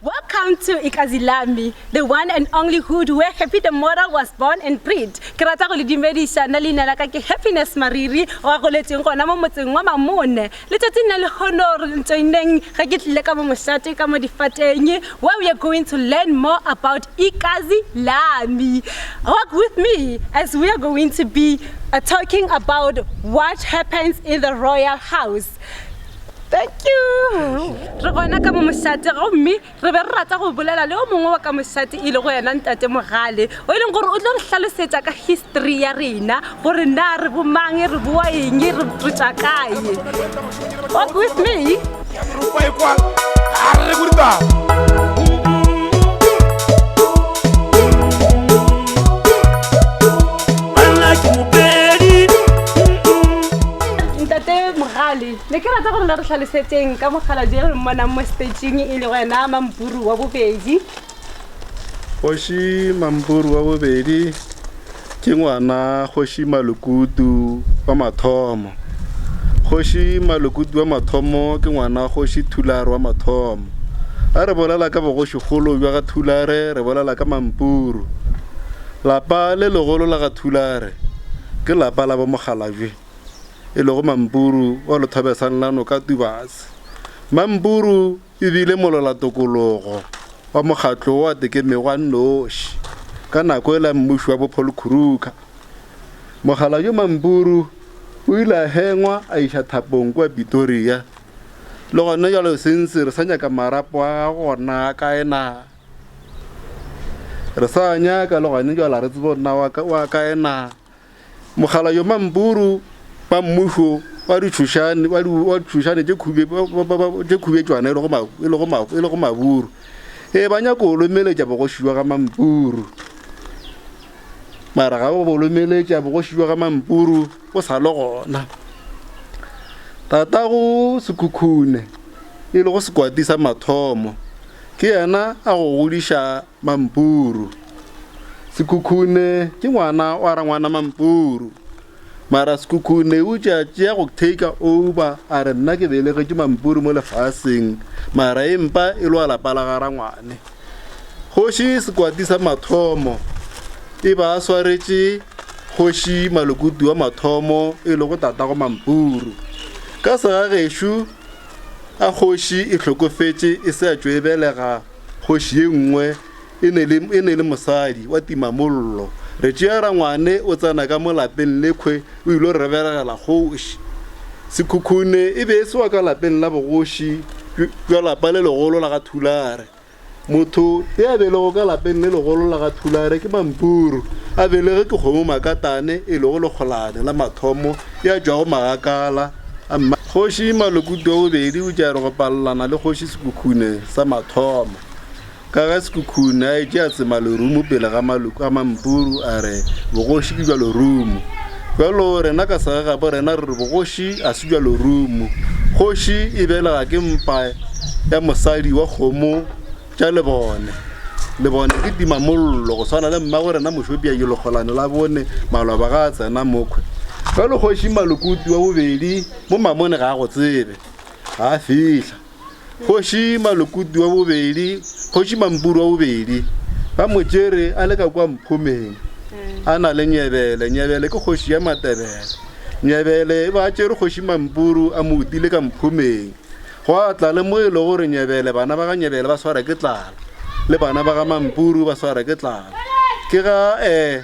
Welcome to Ikazilami, the one and only hood where Happy the Moral was born and bred. Ke rata go le dumediša nna leina la ka ke Happiness Mariri wa goletšeng gona mo motseng wa Mamone. Letšatši nna le kgono re ntšoineng ge ke tlile ka mo mošate ka mo difateng where we are going to learn more about Ikazilami. Walk with me as we are going to be uh, talking about what happens in the royal house. thank you re gona ka momošate gomme re be re rata go bolela le o mongwe wa ka mošate e le go yena ntate mogale o e leng gore o tlo re hlalosetsa ka history ya rena gore na re bomang re boa eng re botsa kae walk with me ntate mogale ne ke rata gore le re tlhalosetseng ka mokgaladi e re mmonang mo stageng e le wena mampuru wa bobedi kgoši mampuru wa bobedi ke ngwana kgoši malokutu wa mathomo kgoši malokutu wa mathomo ke ngwana kgoši thulare wa mathomo a re bolela ka bogošikgolo bja ga thulare re bolela ka mampuru Lapa le legolo la ga Thulare ke lapa la bo Mokgalajwe e lego Mampuru wa Lothobesang la Noka Tubase. Mampuru e bile mololatokologo wa mokgatlo wo a tekemego a nnoši ka nako e la mmuši wa bo Paul Khuruka. Mokgalajwe Mampuru o ile a hengwa a iša thapong kua Pitoria. Le gona jalo sensiri sa nyaka marapo a gago gona kae na? re sa nyaka logane jala re tsebo nna wa kae na mogala yo mampuru ba mmušo ba ditšhošane ba ditšhošane tše khube tše khube tšwana e lego ma e lego ma e lego maburu e ba nyaka go lomeletša bogoši jwa ga mampuru mara ga ba bo lomeletša bogoši jwa ga mampuru o sa le gona tatago sekhukhune e lego sekwati sa mathomo Ke yena a go godiša mampuru. Sekhukhune ke ngwana wa rangwana mampuru. Mara sekhukhune o tšea tšea go take over a re nna ke belegetše mampuru mo lefaseng mara e mpa e lwa lapa la ga rangwane. Kgoši sekwati sa mathomo e ba swaretše kgoši malokutu wa mathomo e le go tatago mampuru. Ka segagešo A kgoši e hlokofetše e se a tšo e belega, kgoši ye nngwe e ne le, e ne le mosadi wa timamollo. Re tšea rangwane o tsena ka mo lapeng lekhwe o ilo re belegela kgoši. Sekhukhune e be e se wa ka lapeng la bogoši bja lapa le legolo la ga Thulare. Motho yo a belegwego ka lapeng le legolo la ga Thulare ke Mampuru, a belegwe ke Kgomo Makatane e lego lekgolane la mathomo ya tšwago magakala a mma. Kgoši Malokutu wa bobedi o tšea go palelana le Kgoši Sekhukhune sa mathomo, ka ge Sekhukhune a etše a tsema lerumo pele ga maloko a Mampuru a re bogoši ke bja lerumo. Bjalo rena ka segagabo rena re re bogoši ga se bja lorumo. Kgoši e belega ke mpa ya mosadi wa kgomo tša lebone. Lebone ke timamollo go swana le mmago rena Mošopia yo lekgolane la bone maloba ga a tsena mokhwe. Bjalo kgoši Malokuti wa bobedi mo mamone ga a go tsebe. Ga a fihla. Kgoši Malokutu wa bobedi, Kgoši Mampuru wa bobedi, ba mo tšere a le ka kwa Mphomeng a na le Nyebele. Nyebele ke kgoši ya Matebele. Nyebele e ba a tšere Kgoši Mampuru a mo utile ka Mphomeng. Gwa tla le mo e le gore Nyebele, bana ba ga Nyebele ba swara ke tlala, le bana ba ga Mampuru ba swara ke tlala. Ke ga um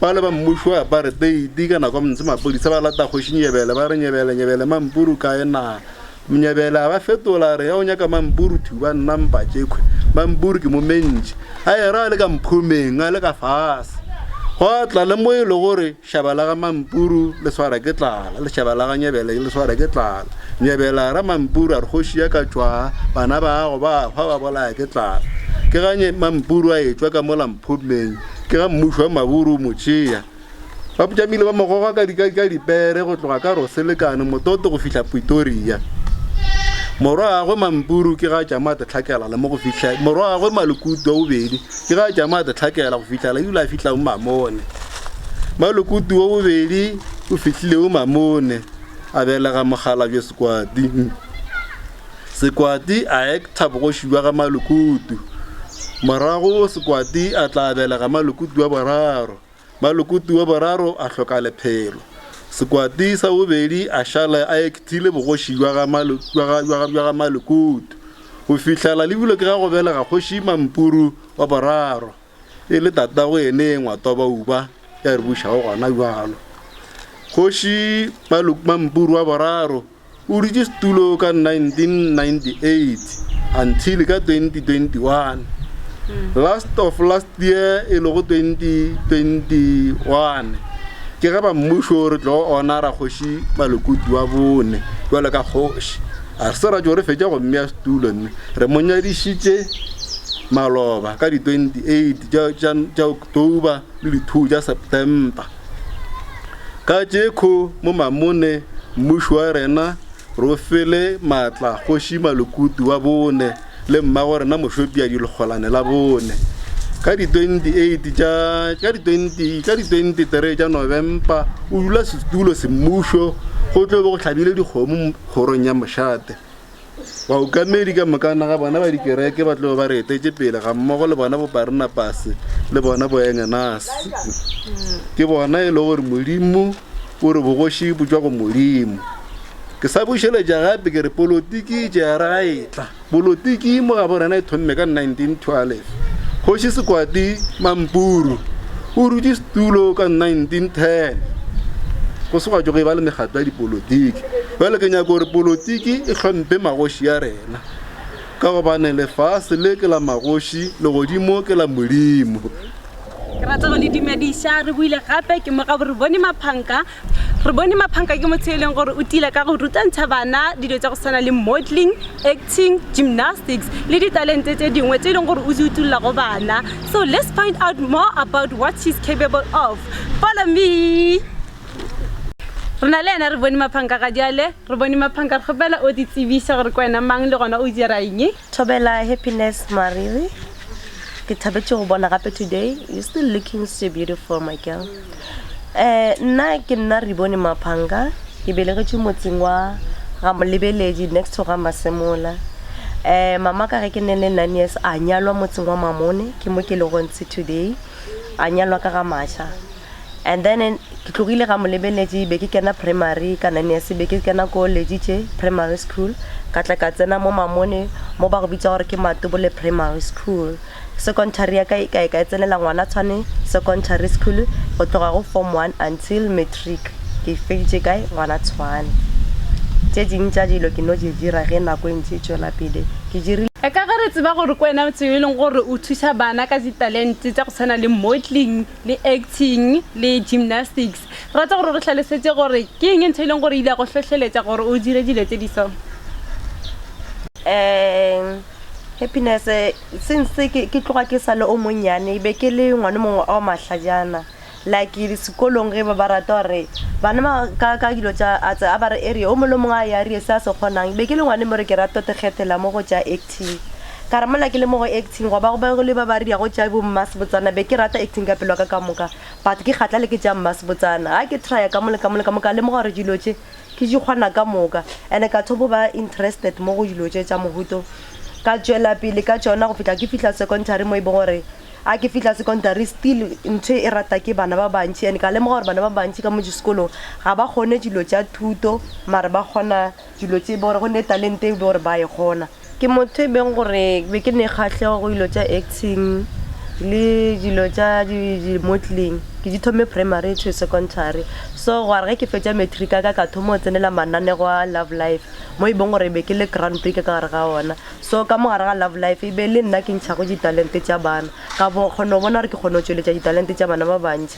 Bale ba mmušo wa aparteiti ka nako ntse mapodisa ba lata kgoši Nyebele ba re Nyebele Nyebele Mampuru kae na Nyebele a ba fetola a re ya o nyaka Mampuru thuba nna mpa tšekhwe Mampuru ke mo mentši a era a le ka mphomeng a le ka fase go tla le mo e le gore šaba la ga Mampuru le swara ke tlala le šaba la ga Nyebele le swara ke tlala Nyebele a ra Mampuru a re kgoši ya ka tšwa bana ba go ba hwa ba bolaya ke tlala ke ga Mampuru a etšwa ka mo la mphomeng Ke ga mmušo wa Maburu o mo tšea. Ba Putšamile ba mo goga ka dika ka dipere go tloga ka Roselekane mototo go fihla Pretoria. Morwagwe Mampuru ke ga tšama Tlhakela le mo go fihla morwagwe Malukutu wa bobedi ke ga tšama Tlhakela go fihla le dula fihla o Mamone. Malukutu wa bobedi o fihlile o Mamone a belega Mogalabje Sekwati. Sekwati a ekta bogoši bja ga Malukutu. Morago Sekwati a tla abela ga Malukutu wa boraro. Malukutu wa boraro a hloka lephelo. Sekwati sa bobedi a šala a ektile bogoši bja ga Malukutu go fihlela le bilwe ke ga go belega Kgoši Mampuru wa boraro e le tatago ene ngwa Tobauba ya re bušago gona bjalo. Kgoši Mampuru wa boraro O dutše setulo ka 1998 until ka 2021. Last of last year e lego 2021 ke ge ba mmušo re tlo ona ra kgoši Malokoti wa bone jwale ka kgoši. A re se ra tšo re fetša go mmea setulo mme re mo nyadišitše maloba ka di 28 tša October le di 2 tša September. Ka tšekho mo Mamone mmuši wa rena Rofele Matla Kgoši Malukutu wa bone le mmago rena Mošopiadi Lekgolane la bone. Ka di 28 tša ka di 20 ka di 23 tša Novempa o dula setulo semmušo go tlo be go hlabile dikgomo kgorong ya Mošate. Baokamedi ka mokana ga bona ba dikereke ba tlogo ba re etetše pele gammogo le bona boParnapase le bona boEngenase. Ke bona e le gore Modimo o re bogoši bo tšwa go Modimo. Ke sa bušeletša gape ke re polotiki e tšea re ga etla. Polotiki mo ga borena e thomme ka 1912. Kgoši Sekwati Mampuru o rutše setulo ka 1910. Go se gwa tšwa go e ba le mekgatlo ya dipolotiki. Bjale ke nyaka gore polotiki e hlomphe magoši a rena, ka gobane lefase le ke la magoši, legodimo ke la Modimo. Ke rata go le dumediša. Re boile gape, ke mo gabo re bone Maphanka. Re bone Maphanka ke motho yo e leng gore o tila ka go rutantšha bana dilo tša go swana le modeling, acting, gymnastics le ditalente tše dingwe tše e leng gore o di utulla go bana. So let's find out more about what she's capable of. Follow me. Re na le yena re bone maphanka ga diale re bone maphanka re kgopela o di tsebise gore ke wena mang le gona o dira eng. Thobela Happiness Mariri ke thabetše go bona gape today you still looking so beautiful my girl eh nna ke nna re bone maphanka ke belegetšwe motseng wa ga molebeledi next to ga masemola eh mama ka ge ke ne le nine years a nyalwa motseng wa mamone ke mo ke le gontse today a nyalwa ka ga maša And then eh, ke tlogile ga molebeletše be ke kena primary ka nine years be ke kena ko lejitše primary school ka tla ka tsena mo mamone mo ba go bitsa gore ke matobole primary school secondary ya ka e kae ka e tsenela ngwana tshwane secondary school go tloga go form one until matric ke feditše kae ngwana tshwane tše ding tša dilo ke no di dira ge nako e ntse e tšwela pele ke dirile e ka ge re tseba gore ko wena motho yo e leng gore o thusa bana ka ditalente tsa go tshwana le modeling le acting le gymnastics rata gore re tlhalosetse gore ke eng ntho e leng gore ile ya go hlohleletsa gore o dire dilo tse di so um happiness since ke tloga ke sale o monnyane be ke le ngwane mongwe ao mahlajana like sekolong ge ba ba rata gore bana ka dilo tsa a ba re area o mole mongwe a ya area se a se kgonang be ke le ngwane mo re ke rata te kgethela mo go tsa acting acting. Ka re mola ke le mo go acting gwa ba go be go le ba ba riago tša bo mmasebotsana, be ke rata acting ka pelo ya ka ka moka but ke kgatla le ke tša mmasebotsana. Ga ke trya ka mo le ka mo le ka mo ka lemoga gore dilo tše ke di kgona ka moka and ka thobo ba interested mo go dilo tše tša mohuta o. Ka tšwela pele ka tšona go fihla ke fihla secondary mo e bong gore ga ke fihla secondary still ntho e rata ke bana ba bantši and ka lemoga gore bana ba bantši ka mo disekolong ga ba kgone dilo tša thuto mare ba kgona Dilo tše e be gore go ne talente e be gore ba e kgona. Ke motho e beng gore ke be ke ne kgahlego go dilo tša acting le dilo tša di-modelling. Ke di thome primary to secondary. So gwa re ge ke fetša matric ya ka, ka thoma go tsenela mananego a Love Life mo e beng gore ke be ke le grand prix ka gare ga ona. So ka mo gare ga Love Life e be e le nna ke ntšhago ditalente tša bana, ka kgona go bona gore ke kgona go tšweletša ditalente tša bana ba bantši.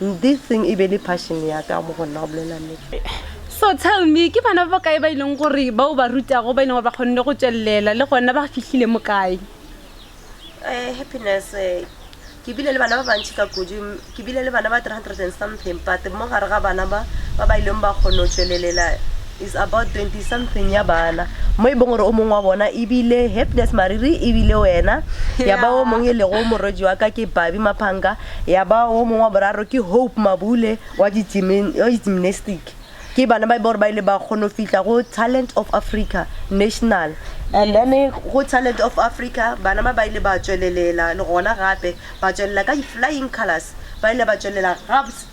This thing e be le passion ya ka mo go nna go bolela nnete. So tell me, ke bana ba ba kae ba ileng gore ba o ba rutago ba ileng gore ba kgonne go tswelelela le gona ba fihlile mo kae? Eh, happiness eh, ke bile le bana ba bantši ka kudu m- ke bile le bana ba 300 and something but mo gare ga bana ba ba ba ileng ba kgona go tšwelelela is about 20 something ya bana mo e bong gore o mongwe wa bona e bile happiness mariri e bile wena ya ba o mongwe e lego morwedi wa ka ke babi maphanga Ya ba o mongwe wa boraro ke Hope Mabule wa gymnastic. Ke bana ba e ba gore ba ile ba kgona go fihla go Talent of Africa National. And then go Talent of Africa bana ba ba ile ba tšwelelela le gona gape ba tšwelela ka di-flying colours, ba ile ba tšwelela gabs.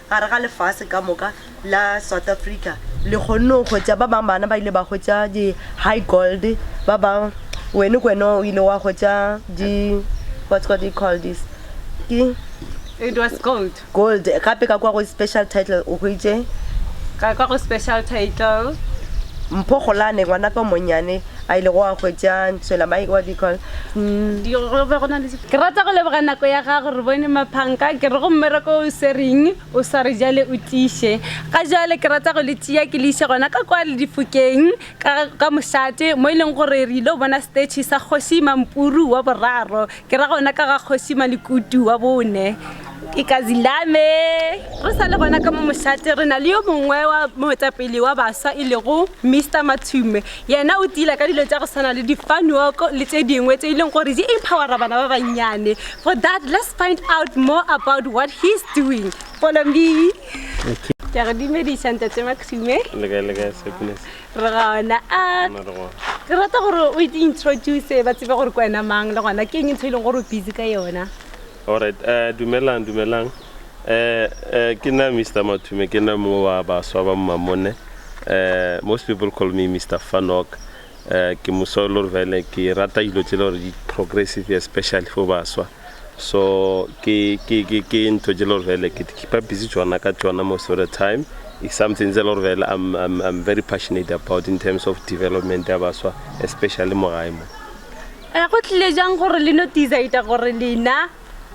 Gare ga lefase ka moka la South Africa, le kgonne go hwetša ba bang, bana ba ile ba hwetša di-high gold, ba bang, wene kwena o ile wa hwetša di, what's what they call this, ke It was gold. gold, gape ka kwa go special title o hwetše Ka kwa go special title. Mpho Kgolane, ngwanaka o monnyane a ilego a hwetša Ntshwela, my, what do you call, mm, Di, go be go na le Ke rata go leboga nako ya gago re bone maphanka ke re go mmereko o swereng o sware jale o tiše ga jale ke rata go le tšea ke le ise gona ka kwa le difokeng ka ka mošate mo e leng gore re ile go bona stetšhe sa kgoši mampuru wa boraro ke ra gona ka ga kgoši malekutu wa bone ke ka zilame re sa le gona ka mo mošate re na le yo mongwe wa moetapele wa baswa e lego Mister Matshume Yena o tila ka dilo tša go swana le difanuoko le tše dingwe tše e leng gore di empowera bana ba bannyane. For that, let's find out more about what he's doing. Follow me. Okay. Ke re dumediša ntate Maxime. Le kae le kae Sepinese? Re gona. A ke rata gore o introduce ba tsebe gore ke wena mang le gona ke eng ntho e leng gore o busy ka yona. Alright dumelang dumelang ke nna Mister Mathume ke nna mongwe wa baswa ba Mmamone most people call me Mister Fanok ke moswa e le gore fele ke rata dilo tse le gore di progressive especially for baswa so ke ke ke ke ntho tse le gore fele ke keepa busy tsona ka tsona most of the time is something tse le gore fele I'm, I'm, I'm very passionate about in terms of development ya baswa especially mo gae mo E go tlile jang gore le no decide gore lena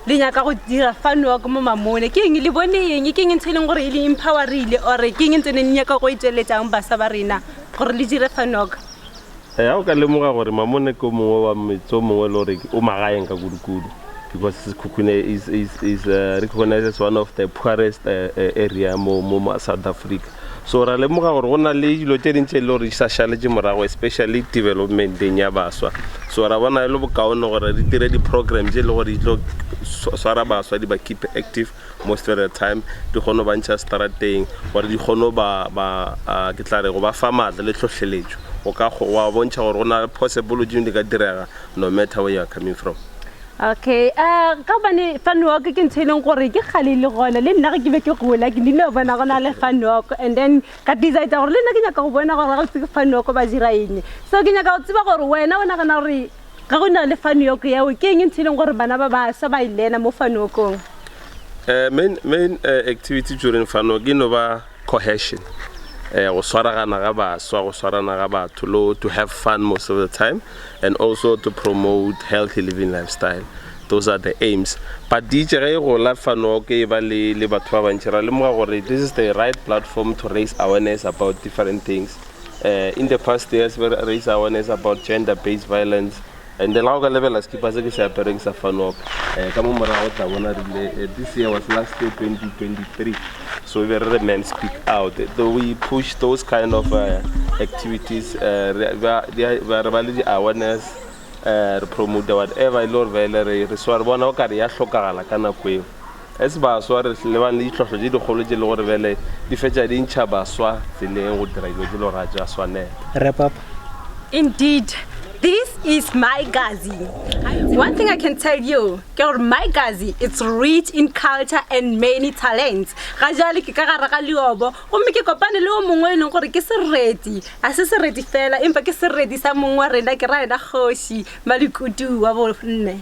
le nyaka go dira fun walk mo mamone ke eng le bone eng ke eng ntho e leng gore e le empowerile or ke eng ntse ne le nyaka go e tsweletsang basa ba rena gore le dire fun walk Eh, ha o ka lemoga gore mamone ke o mongwe wa metse o mongwe e le gore o magaeng ka kudu-kudu because sekhukhune is, is, is uh, recognized as one of the poorest uh, uh, area mo, mo mo south africa So ra lemoga gore go na le dilo tše ding tše e le gore di sa šaletše morago, especially developmenteng ya baswa. So ra bona e le bokaone gore re dire di-program tše e le gore di tlo swara baswa, di ba keep active most of the time, di kgone go ba ntšha straat-eng gore di kgone go ba, ke tla re, go ba fa maatla le hlohleletšo go ka, go ba bontšha gore go na le possible tše dingwe di ka direga no matter where you are coming from. Okay um ka gobane fan walk ke ntho e leng gore ke kgale le gona le nna ge ke be ke gola ke nile go bona go na le fan walk and then ka decide gore le nna ke nyaka go bona gore ga botse ke fan walk ba dira eng so ke nyaka go tseba gore wena o nagana gore ge go na le fan walk yeo ke eng ntho e leng gore bana ba basha ba e lena mo fan walkong um main main um activity during fan walk e no ba Cohesion, eh, go swaragana ga baswa, go swarana ga batho, lo to have fun most of the time, and also to promote healthy living lifestyle. Those are the aims. But di itše ge e gola fano ke e ba le, le batho ba bantši, ra lemoga gore this is the right platform to raise awareness about different things. Eh, in the past years, we raise awareness about gender-based violence, And then ga o ka lebela sekipa se ke se apereng sa fanop um ka mo morago o tla bona rile eh, this year was last year 2023 so be re re man speak out though we push those kind of uh, activities uh, re ba le di-awareness uh, re promote whatever e le gore ba ele re re swa re bona o kare ya hlokagala ka nako eo As baswa re lebane le ditlhohlo tše dikgolo tše le gore bjale di fetša di ntšha baswa tseleng go dira dilo tše lo ra tša swanelo. Wrap-up. Indeed, this is my Gazi. One thing I can tell you ke gore my Gazi it's rich in culture and many talents. Ga jale ke ka gare ga leobo gomme ke kopane le yo mongwe yo e leng gore ke sereti, ga se sereti fela empa ke sereti sa mong wa rena ke ra yena kgoši Malikutu wa bo nne.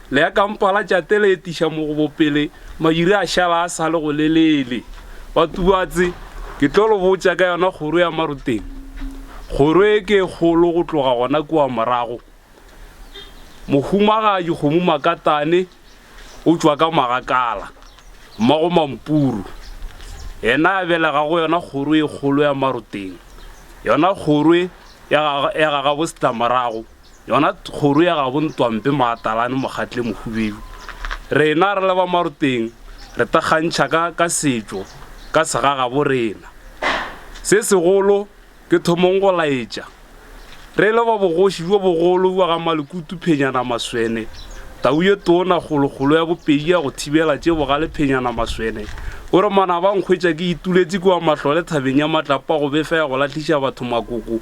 Le ya kampa la tšate le etiša mogobo pele madiri a šala a sa le go lelele. Batubatse, ke tlo lo botša ka yona kgoro ya Maroteng. Kgoro e ke e kgolo go tloga gona kua morago. Mohumagadi kgomo makatane o tšwa ka magakala, mmago mampuru. Yena a belega go yona kgoro e kgolo ya Maroteng. Yona kgoro ya ga, ya ga gabo setlamorago. Yona kgoro ya gabo Ntwampe Maatalane Mokgatle Mohubedu, rena re le ba Maroteng re thakgantšha ka ka setšo ka segagabo rena. Se segolo ke thomong go laetša re le ba bogoši bjo bogolo bja ga Malekutu Phenyana Maswene, tau ye tona kgolokgolo ya bopedi ya go thibela tše bogale Phenyana Maswene o re Manaba nkhwetša ke ituletše kua Mahlole thabeng ya Matlapa go befa ya go lahliša batho makoko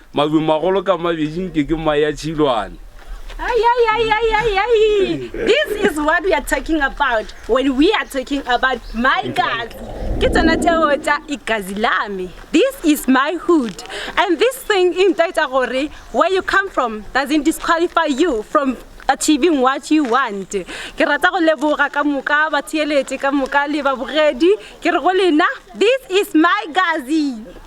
Madumagolo ka mabedi nke ke maya tšhilwane. Ay, ay, ay, ay, ay, ay. This is what we are talking about when we are talking about my God. Ke tsona tšeo tša ikazi lame. This is my hood. And this thing e ntaetša gore where you come from doesn't disqualify you from achieving what you want. Ke rata go leboga ka moka batheeletše ka moka le babogedi. Ke re go lena, this is my gazi.